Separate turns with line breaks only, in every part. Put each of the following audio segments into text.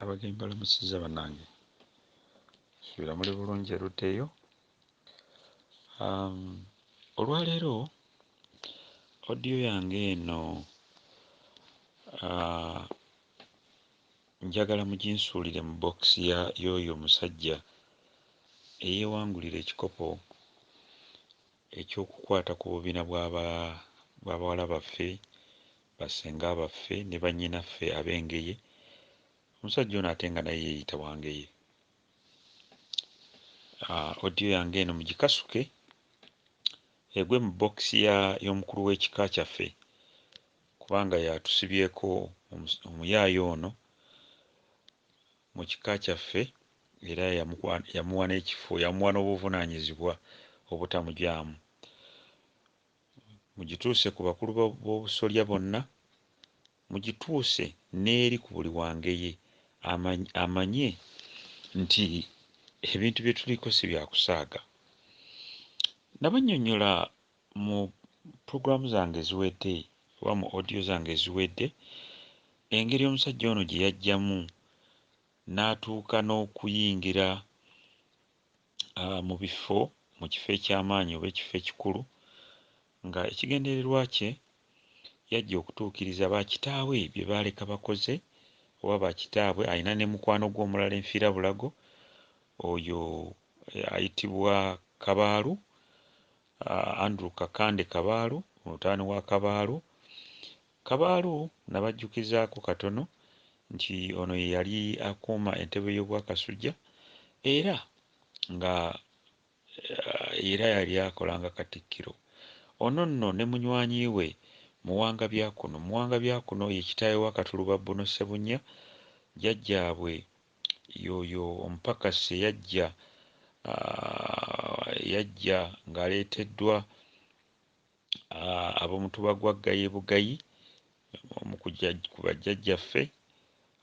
Abagenyi mbalamusizza banange, nsuubira muli bulungi erudda eyo. Um, olwaleero odiyo yange eno uh, njagala muginsuulire mu bokisi ya y'oyo omusajja eyeewangulira ekikopo eky'okukwata ku bubina bwa ba bwa bawala baffe, ba ssenga baffe ne bannyinaffe ab'Engeye, omusajja ono ate nga naye yeeyita wa Ngeye. Audio yange eno mugikasuke egwe mu box ya y'omukulu w'ekika kyaffe kubanga y'atusibyeko omuyaaye ono mu kika kyaffe era yamuwa n'ekifo, yamuwa n'obuvunaanyizibwa obutamugyamu. Mugituuse ku bakulu b'obusolya bonna, mugituuse n'eri ku buli wa Ngeye amanye nti ebintu bye tuliko si bya kusaaga. Nabannyonnyola Mu program zange eziwedde oba mu audio zange eziwedde, engeri omusajja ono gye yajjamu n'atuuka n'okuyingira mu bifo mu kifo eky'amaanyi oba ekifo ekikulu nga ekigendererwa kye yajja okutuukiriza ba kitaawe bye baaleka bakoze oba ba kitaabwe alina ne mukwano gwe omulala enfiirabulago oyo ayitibwa Kabaalu Andrew Kakande Kabaalu, mutabani wa Kabaalu. Kabaalu nabajjukizaako katono nti ono ye yali akuuma entebe y'Obwakasujja era nga era yali akola nga Katikkiro. Ono nno ne munywanyi we Muwanga Byakuno. Muwanga Byakuno ye kitaawe wa Katuluba Bbuno Ssebunnya, jjajjaabwe. Y'oyo omupakasi eyajja, ah, eyajja ng'aleeteddwa, ah, ab'omutuba gwa Gaye Bugayi, omu ku jja, ku bajjajjaffe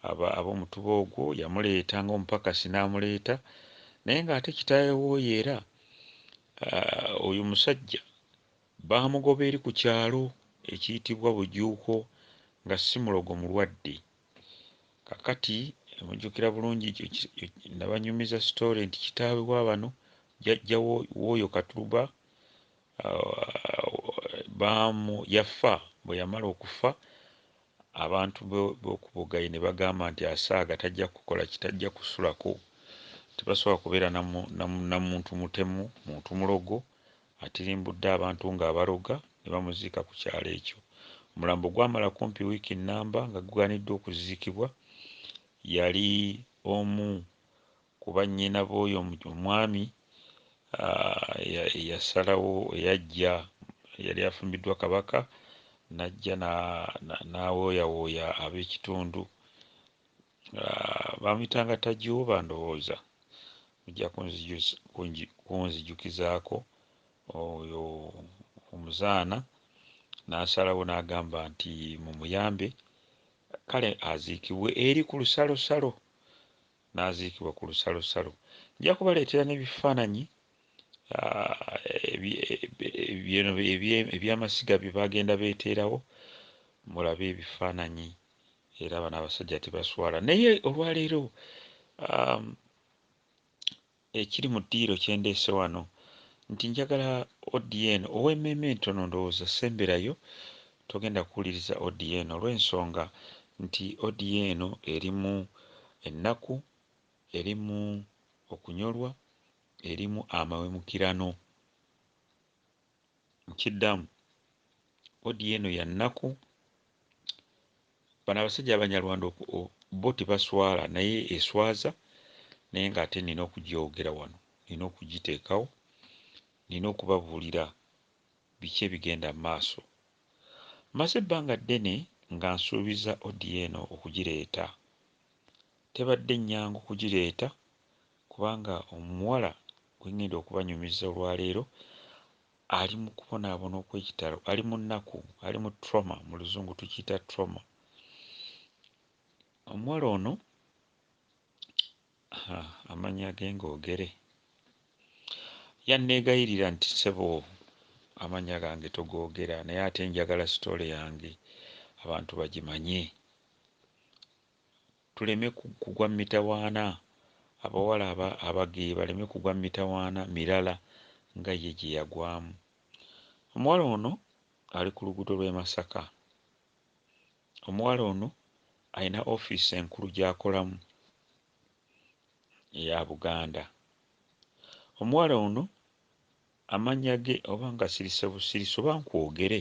aba, ab'omutuba ogwo. Yamuleeta nga omupakasi n'amuleeta. Naye ng'ate kitaawe w'oyo era, ah, oyo omusajja baamugoba eri ku kyalo ekiyitibwa Bujuuko, nga si mulogo mulwadde. kakati mujjukira bulungi ekyo ki- ekyo- nabanyumiza story nti kitaawe wa bano jajja wo- w'oyo katuluba ah, baamu yafa bwe yamala okufa abantu bo- b'okubogayi ne bagamba nti asaaga tajja kukola ki tajja kusulako tebasobola kubeera na mu- na mu- na muntu mutemu muntu mulogo Atirimbudde abantu ng'abaloga ne bamuziika ku kyalo ekyo. Omulambo gwamala kumpi wiiki nnamba nga gugaaniddwa okuziikibwa. Yali omu ku bannyina b'oyo omwami eyasalawo, eyajja, eyali afumbiddwa Kabaka n'ajja n'awooyawooya ab'ekitundu Bamuyitanga Tajooba ndowooza mujja kunzijukizaako oyo omuzaana n'asalawo n'agamba nti mumuyambe kale aziikibwe eri ku lusalosalo n'aziikibwa ku lusalosalo. Nja kubaleetera n'ebifaananyi eby'amasiga bye bagenda beeteerawo mulabe ebifaananyi. era abana abasajja tebaswala naye olwaleero um, ekiri mu ddiiro kyendeese wano nti njagala odn owemmeme entono ndowooza semberayo togenda kuwuliriza odn olw'ensonga nti odn erimu ennaku erimu okunyolwa erimu amawemukirano nkiddamu audio eno ya nnaku bano abasajja abanyarwanda oku- o- bo tebaswala naye eswaza naye ng'ate nina okugyogera wano nina okugiteekawo nina okubabuulira biki ebigenda mu maaso maze ebbanga ddene nga nsuubiza audio eno okugireeta tebadde nnyangu kugireeta kubanga omuwala gwe ŋŋenda okubanyumiza olwaleero ali mu kubonaabona okw'ekitalo, ali mu nnaku, ali mu trauma, mu Luzungu tukiyita trauma. Omuwala ono amannya ge ng'ogere, yanneegayirira nti ssebo amannya gange togoogera naye ate njagala sitoole yange abantu bagimanye. Tuleme kugwa mu mitawaana, abawala aba, abageyi baleme kugwa mu mitawaana mirala nga ye gye yagwamu. Omuwala ono ali ku luguudo lw'e Masaka. Omuwala ono alina ofiisi enkulu gy'akolamu eya Buganda. Omuwala ono amannya ge oba ngasirise busirise oba nkwogere?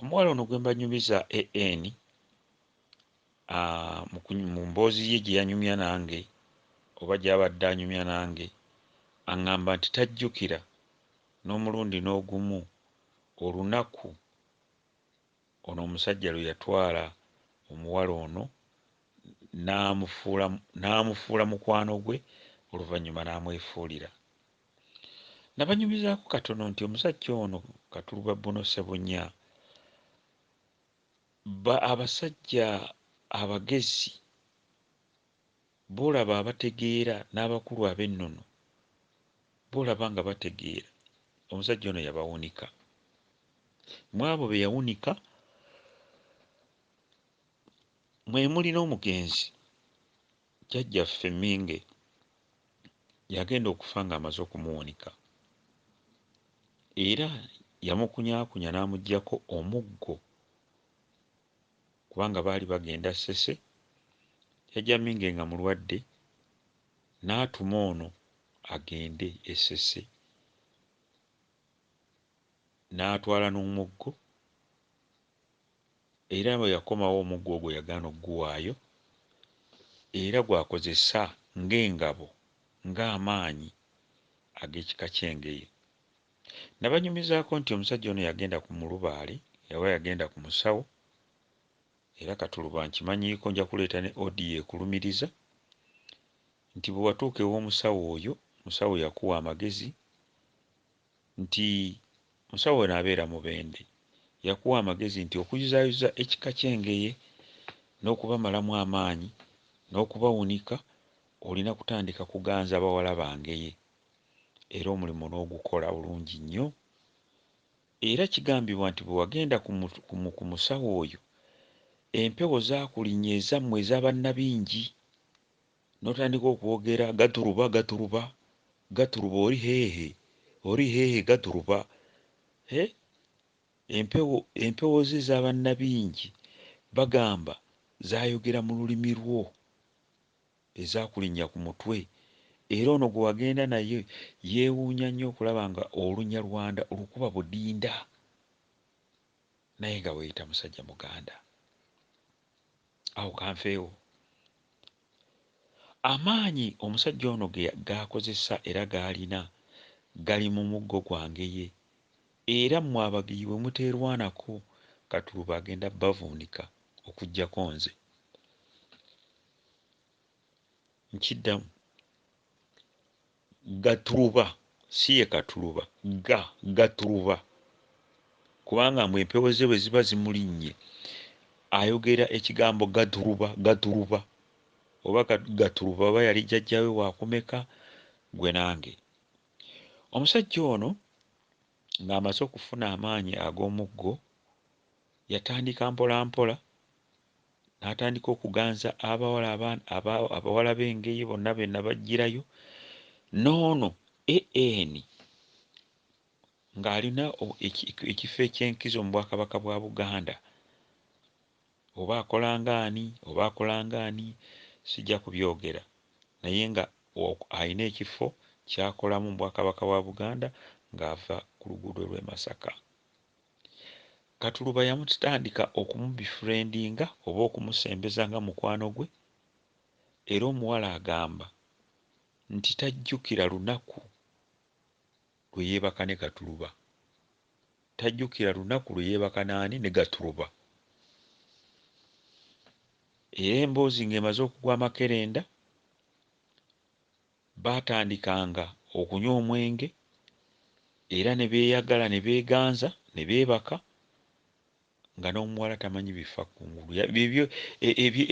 omuwala ono gwembanyumiza AN ah, mu mboozi ye gye yanyumya nange oba gy'abadde anyumya nange aŋŋamba nti tajjukira n'omulundi n'ogumu olunaku ono omusajja lwe yatwala omuwala ono n'amufuula mukwano gwe oluvannyuma n'amwefuulira Nabanyumizaako katono nti omusajja ono Katuluba Bruno Ssebunya bba abasajja abagezi b'olaba abategeera n'abakulu ab'ennono b'olaba nga bategeera omusajja ono yabawunika. Mw'abo be yawunika mwe muli n'omugenzi Jjajjaffe Mminge yagenda okufa ng'amaze okumuwanika era yamukunyaakunya n'amuggyako omuggo kubanga baali bagenda Ssese, jjajja Mminge nga mulwadde n'atuma ono agende e Ssese n'atwala n'omuggo. era bwe yakomawo omuggo ogwo yagaana okuguwaayo, era gw'akozesa ng'engabo, ng'amaanyi ag'ekika ky'Engeye. Nabanyumizaako nti omusajja ono yagenda ku mulubaale oba yagenda ku musawo, era Katuluba nkimanyiiko nja kuleeta ne audio ekulumiriza nti bwe watuuka ew'omusawo oyo, omusawo yakuwa amagezi nti musawo ono abeera Mubende yakuwa amagezi nti okuyuzaayuza ekika ky'Engeye n'okubamalamu amaanyi n'okubawunika olina kutandika kuganza bawala ba Ngeye era omulimu n'ogukola bulungi nnyo era kigambibwa nti bwe wagenda ku musawo oyo empewo zaakulinya ezammwe eza Bannabingi Notandika okwogera gaturuba gaturuba gaturuba oli hehe oli hehe gaturuba he empewo empewo ze zabanabingi bagamba zayogera mululimi lwo ezakulinya kumutwe era ono gwewagenda naye yewunya nnyo okulaba nga olunyalwanda olukuba budinda naye nga weyita musajja muganda. Awo kanfeewo. Amaanyi omusajja ono ge g'akozesa era g'alina gali mu muggo gwange ye era mmwe Abagiyi bwe muteerwanako Katuluba agenda bavuunika okuggyako nze. Nkiddamu. Gaturuba si ye Katuluba. Ga, Gaturuba. Kubanga mbu empewo ze bwe ziba zimulinnye, ayogera ekigambo Gaturuba, Gaturuba. Oba ka, Gaturuba oba yali jjajja we wa kumeka? Ggwe nange. Omusajja ono ng'amaze okufuna amaanyi ag'omuggo, yatandika mpolampola n'atandika okuganza abawala abawala b'Engeye bonna be nabaggyirayo n'ono AN ng'alina ekifo eky'enkizo mu Bwakabaka bwa Buganda oba akola ng'ani oba akola ng'ani sijja kubyogera naye nga alina ekifo ky'akolamu mu Bwakabaka bwa Buganda ng'ava ku luguudo lw'e Masaka Katuluba yamutandika okumubifurendinga oba okumusembeza nga mukwano gwe era omuwala agamba nti tajjukira lunaku lwe yeebaka ne Katuluba. Tajjukira lunaku lwe yeebaka n'ani? Ne Gatuluba. Era emboozi ng'emaze okugwa amakerenda, Baatandikanga okunywa omwenge, era ne beeyagala ne beeganza, ne beebaka, nga n'omuwala tamanyi bifa ku ngulu. Ebyo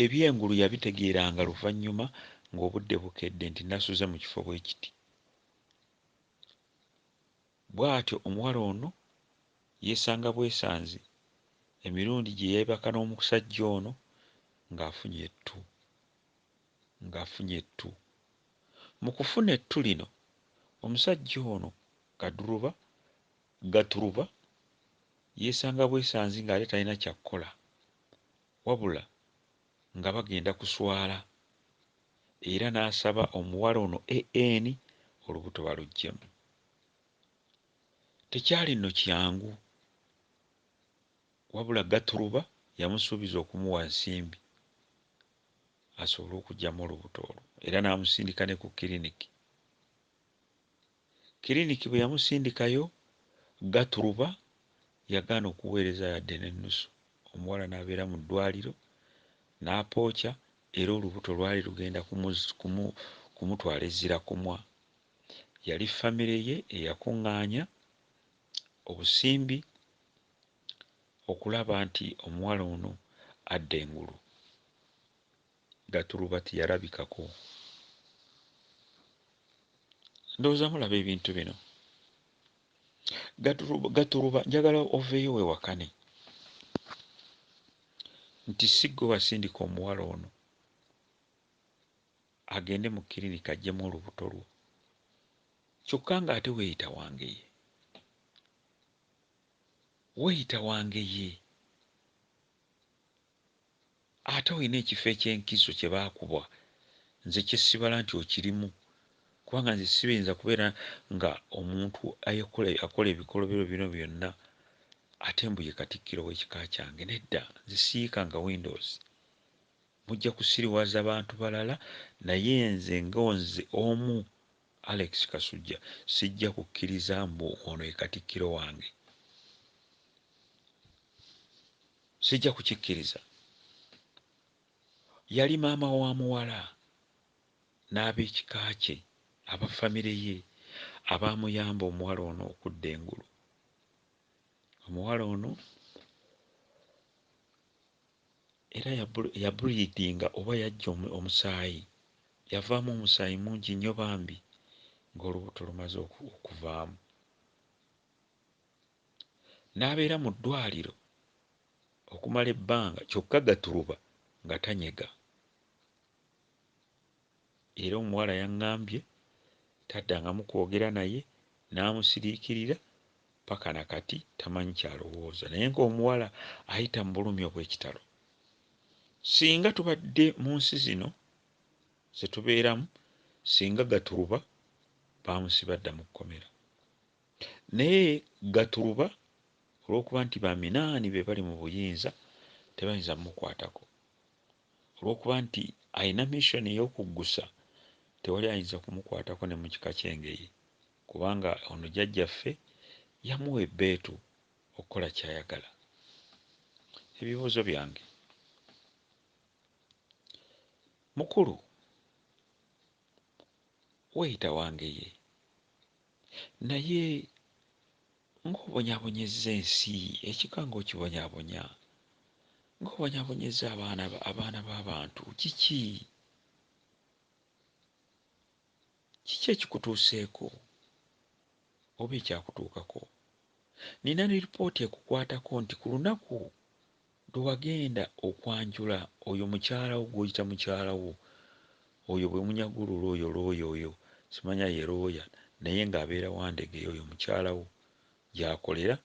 eby'engulu yabitegeeranga luvannyuma ng'obudde bukedde nti nasuze mu kifo bwe kiti. Bw'atyo omuwala ono yeesanga bwesanzi emirundi gye yeebaka n'omusajja ono ng'afunye ettu. ng'afunye ettu. Mu kufuna ettu lino, omusajja ono Gaduruba, Gaturuba, yeesanga bwesanzi ng'ate talina kya kukola wabula nga bagenda kuswala era n'asaba omuwala ono AN olubuto baluggyemu. Tekyali nno kyangu wabula Gaturuba yamusuubiza okumuwa ensimbi asobole okuggyamu olubuto olwo era n'amusindika ne ku kiriniki. Kiriniki bwe yamusindikayo, Gaturuba yagaana okuweereza yadde n'ennusu, omuwala n'abeera mu ddwaaliro n'apooca era olubuto lwali lugenda kumutwala e Zzirakumwa. Yali ffamire ye eyakungaanya obusimbi. okulaba nti omuwala ono adda engulu nga tuluba teyalabikako. Ndowooza mulaba ebintu bino. Gatuluba, Gatuluba njagala oveeyo wewakane nti si gwe wasindika omuwala ono agende mu kirinika ajjemu olubuto lwo kyokka ng'ate weeyita wange ye. Weeyita wa ngeye? Ate olina ekifo eky'enkizo kye baakuwa? Nze kye sibala nti okirimu kubanga nze sibinza kubeera nga omuntu ayekola akola ebikolobero bino byonna ate mbu ye Katikkiro w'ekika kyange. Nedda, nze siyiikanga windows. Mujja kusiriwaza bantu balala naye nze nga nze omu Alex Kasujja, Sijja kukkiriza mbu ono ye Katikkiro wange. Sijja kukikkiriza. Yali maama wa muwala n'ab'ekika kye, aba famire ye abaamuyamba omuwala ono okudda engulu. Omuwala ono Era ya bleedinga oba yajja omusaayi, yavaamu omusaayi mungi nnyo bambi ng'olubuto lumaze okuvaamu. N'abeera mu ddwaaliro okumala ebbanga kyokka Gaturuba nga tanyega. Era omuwala yang'ambye taddangamu kwogera naye n'amusiriikirira ppaka na kati tamanyi ky'alowooza naye ng'omuwala ayita mu bulumi obw'ekitalo. Ssinga tubadde mu nsi zino ze tubeeramu ssinga Gaturuba baamusiba dda mu kkomera. Naye Gaturuba olw'okuba nti ba Minaani be bali mu buyinza tebayinza kumukwatako. Olw'okuba nti alina mission ey'okuggusa, tewali ayinza kumukwatako ne mu kika ky'Engeye kubanga ono Jjajjaffe yamuwa ebbeetu okukola ky'ayagala. Ebibuuzo byange, Mukulu weeyita Wangeye naye Ng'obonyaabonyezza ensi, ekika ng'okibonyabonya, ng'obonyaabonyezza abaana, abaana b'abantu. Kiki, kiki ekikutuuseeko, oba ekyakutuukako? Nnina lipooti ekukwatako nti ku lunaku Lwe wagenda okwanjula oyo mukyala wo gw'oyita mukyala wo, oyo bwe munyaga olwo looya olooya oyo, simanya ye looya naye ng'abeera Wandegeya oyo mukyala wo gy'akolera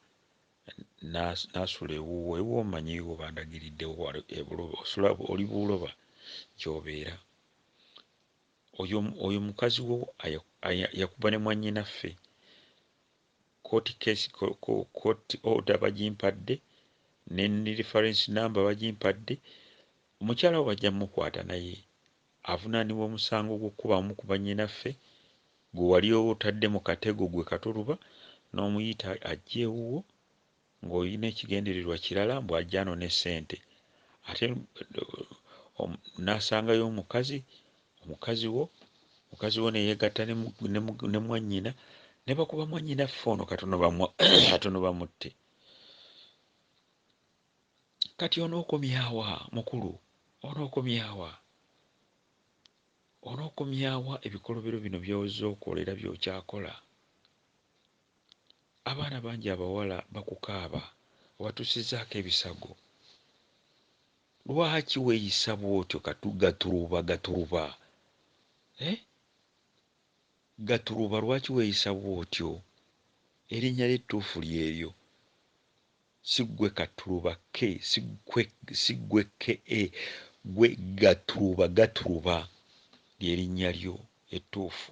n'asula ewuwo, ewuwo mmanyiiwo bandagiriddewo wali e Buloba osula oli Buloba gy'obeera. Oyo oyo mukazi wo aya aya yakuba ne mwannyinaffe. Kkooti case court order bagimpadde ne reference number bagimpadde omukyala wo bajja mukwata naye avunanibwa omusango gw'okukuba abamu ku bannyinaffe gwe wali otadde mu katego gwe Kato Luba n'omuyita ajje ewuwo ng'olina ekigendererwa kirala mbu ajja anone ssente ate n'asangayo omukazi omukazi wo mukazi wo ne yeegatta ne mwannyina ne bakuba mwannyinaffe ono katono bamutte kati onookomyawa mukulu onookomyawa onookomyawa ebikolobero bino by'ozze okola era by'okyakola Abaana bangi abawala bakukaaba, obatuusizzaako ebisago. Lwaki weeyisa bw'otyo Katu, Gaturuba, Gaturuba? Eh? Gaturuba lwaki weeyisa bw'otyo? Erinnya lyo ettuufu ly'eryo. Si ggwe Katturuba, K, si ggwe, si ggwe KA, ggwe Gaturuba, Gaturuba ly'erinnya lyo ettuufu.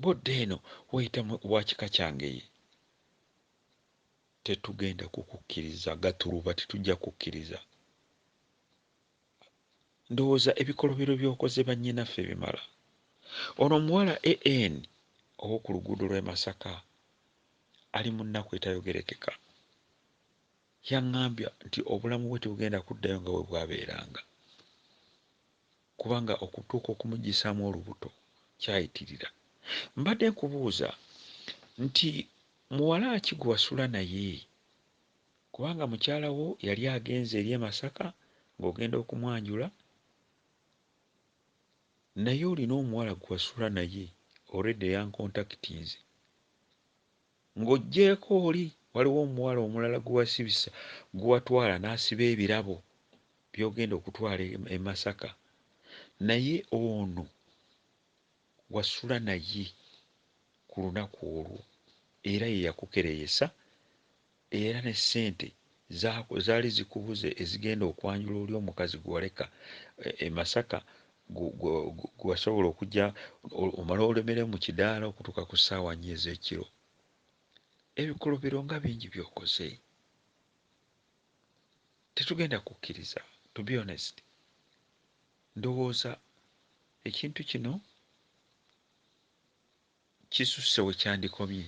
Bwodda eno weyita wa kika kyange ye tetugenda kukukiriza gatuluba tetujja kukiriza ndowooza ebikolobero byokoze banyinaffe bimala ono omuwala AN owokuluguudo lwe Masaka ali munnaku etayogerekeka yangambye nti obulamu bwe tebugenda kuddayo nga bwebwabeeranga. Kubanga okutuuka okumuggyisaamu olubuto kyayitirira. Mbadde nkubuuza nti muwala ki gwe wasula naye? Kubanga mukyala wo yali agenze eri e Masaka ng'ogenda okumwanjula, naye olina omuwala gwe wasula naye already yankontakitinze. Ng'oggyeeko oli, waliwo omuwala omulala gwe wasibisa, gwe watwala n'asiba ebirabo by'ogenda okutwala e Masaka naye ono wasula naye ku lunaku olwo era ye yakukereyesa era ne ssente Zaako zaali zikubuze ezigenda okwanjula oli omukazi gwe waleka e Masaka gwe wasobola okujja omala olemere mu kidaala okutuuka ku ssaawa nnya ez'ekiro. Ebikolobero nga bingi by'okoze. Tetugenda kukkiriza to be honest. Ndowooza ekintu kino kisusse wekyandikomye.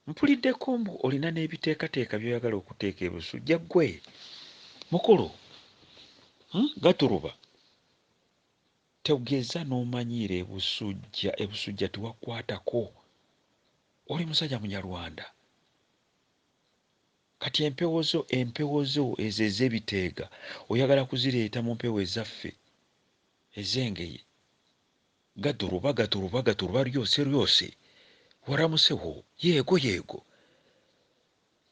Mpuliddeko mbu olina nebiteekateeka byoyagala okuteeka e Busujja gwe mukulu hmm? Gaturuba togeza nomanyiira e Busujja, e Busujja tewakwatako oli musajja munyarwanda kati empewo zo empewo zo ezo ezebiteega oyagala kuzireeta mu mpewo ezaffe ezengeye Gaduruba gaduruba gaduruba lyose lyose waramuseho yego yego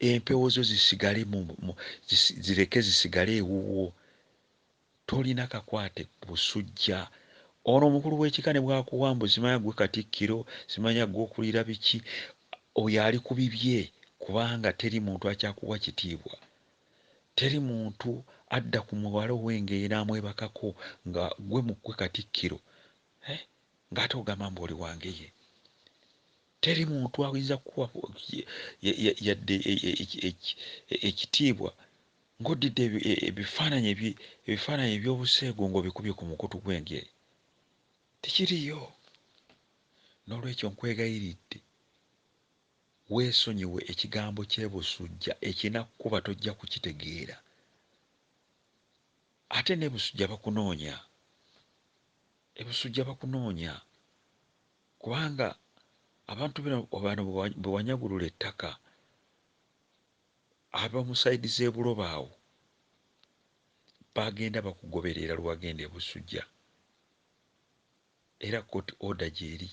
empewo zo zisigale mu, mu zis, zireke zisigale ewuwo tolina kakwate busujja ono omukulu w'ekika ne bwakuwa mbu simanya gwe katikkiro simanya gwe okulira biki oyo ali ku bibye kubanga teri muntu akyakuwa kitiibwa Teri muntu adda ku muwala ow'engeye n'amwebakako nga ggwe mu ggwe Katikkiro eh ng'ate ogamba mbu oli wa ngeye. Teri muntu ayinza kukuwa yadde ekitiibwa ng'oddidde ebifaananyi ebifaananyi eby'obuseegu ng'obikubye ku mukutu gw'engeye. Tekiriiyo. Noolwekyo nkwegayiridde Weesonyiwe ekigambo ky'e Busujja ekinakukuba tojja kukitegeera. Ate n'e Busujja bakunoonya. E Busujja bakunoonya kubanga abantu bino bano bwe wanyagulula ettaka ab'omu sayidi z'e Buloba awo bagenda bakugoberera lwe wagenda e Busujja. Era court order gyeri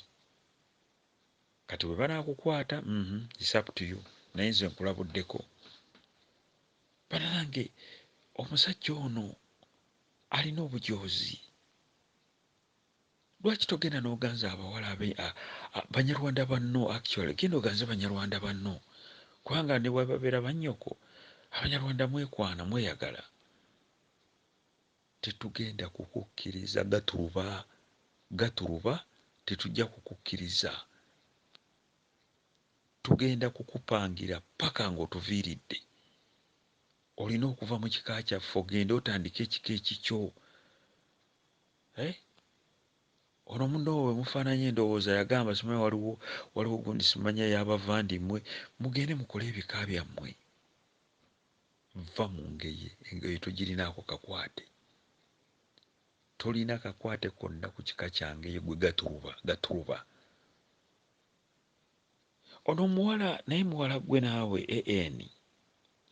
kati bwebanakukwata uhmm it's up to you naye nze nkulabuddeko banange omusajja ono alina obujoozi lwaki togenda noganza abawala abe banyarwanda banno actually genda oganze banyarwanda banno kubanga nebwababera bannyoko abanyarwanda mwekwana mweyagala Tetugenda kukukkiriza Gaturuba, Gaturuba tetujja kukukkiriza. Tugenda kukupangira ppaka ng'otuviiridde. Olina okuva mu kika kyaffe ogende otandike ekika ekikyo. Eh? Ono munno bwe mufaananya endowooza yagamba simanyi waliwo waliwo gundi simanya ya bavandimwe mugende mukole ebika byammwe. Vva mu Ngeye, Engeye togirinaako kakwate. Tolina kakwate konna ku kika kya Ngeye ggwe Gaturuba, Gaturuba. Ono omuwala naye muwala ggwe naawe, AN.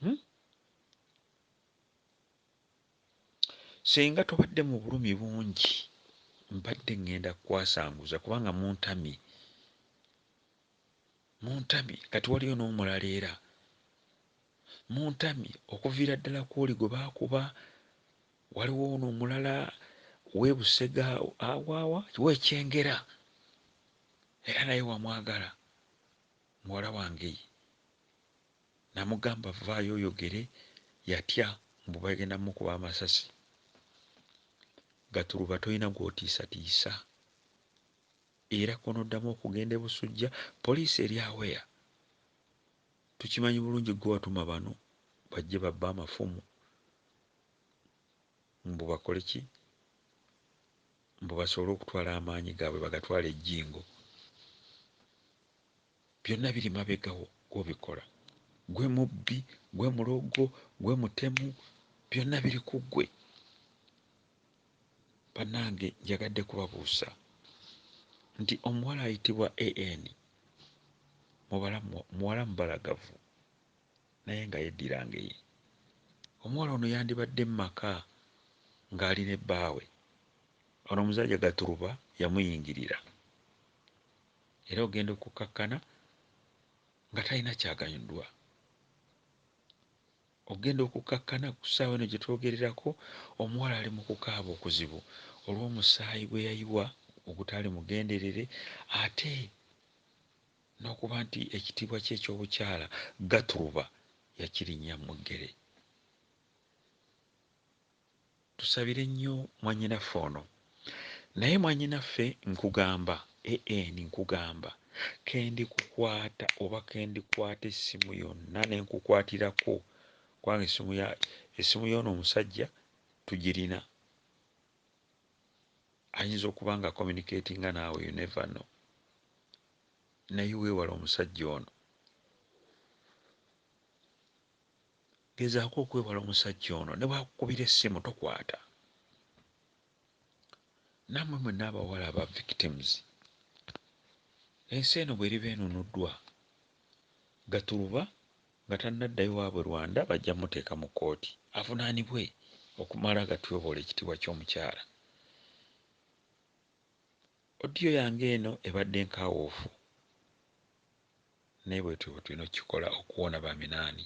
Hum? Ssenga tobadde mu bulumi bungi, mbadde ngenda kukwasanguza kubanga muntamye. Muntamye kati waliyo n'omulala era. Muntamye okuviira ddala kw'oli gwe baakuba, waliwo ono omulala w'e Busega awaawa w'e Kyengera era naye wamwagala muwala wange ye namugamba vvaayo oyogere yatya mbu bagenda mukuba amasasi. Gatuluba tolina gw'otiisatiisa. Era kw'onoddamu okugenda e Busujja, poliisi eri aware. Tukimanyi bulungi ggwe watuma bano bajje babbe amafumu. Mbu bakole ki? Mbu basobole okutwala amaanyi gaabwe bagatwale e Jingo. byonna biri mabega wo gw'obikola. Ggwe mubbi, ggwe mulogo, ggwe mutemu, byonna biri ku ggwe. Bannange njagadde kubabuusa nti omuwala ayitibwa AN mubala muwala mubalagavu naye nga yeddira ngeye. Omuwala ono yandibadde mu maka ng'ali ne bbaawe. Ono omusajja Gaturuba yamuyingirira. era ogenda okukkakkana nga talina kyaganyuddwa ogenda okukkakkana ku ssaawa eno gye twogererako omuwala ali mu kukaaba okuzibu olw'omusaayi gwe yayiwa ogutaali mugenderere ate n'okuba nti ekitiibwa kye eky'obukyala gaturuba yakirinnya mu ggere Tusabire nnyo mwanyinaffe ono. Naye mwanyinaffe nkugamba EN nkugamba kendi kukwata oba kendi kwata essimu yonna nenkukwatirako kubanga essimu ya essimu yoono omusajja tugirina ayinza okuba nga communicatinga naawe you never know naye weewale omusajja ono Gezaako okwewala omusajja ono ne bw'akukubira essimu tokwata. Nammwe mwenna abawala aba victims, ensi eno bw'eriba enunuddwa, Gaturuba nga tannaddayo waabwe Rwanda bajja kumuteeka mu kkooti avunaanibwe okumala gatyoboola ekitiibwa ky'omukyala. Audio yange eno ebadde nkaawuufu Naye bwetyo bwetulina okukikola okuwona ba minaani.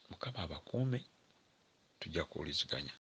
Mukama abakuume tujja kuwuliziganya.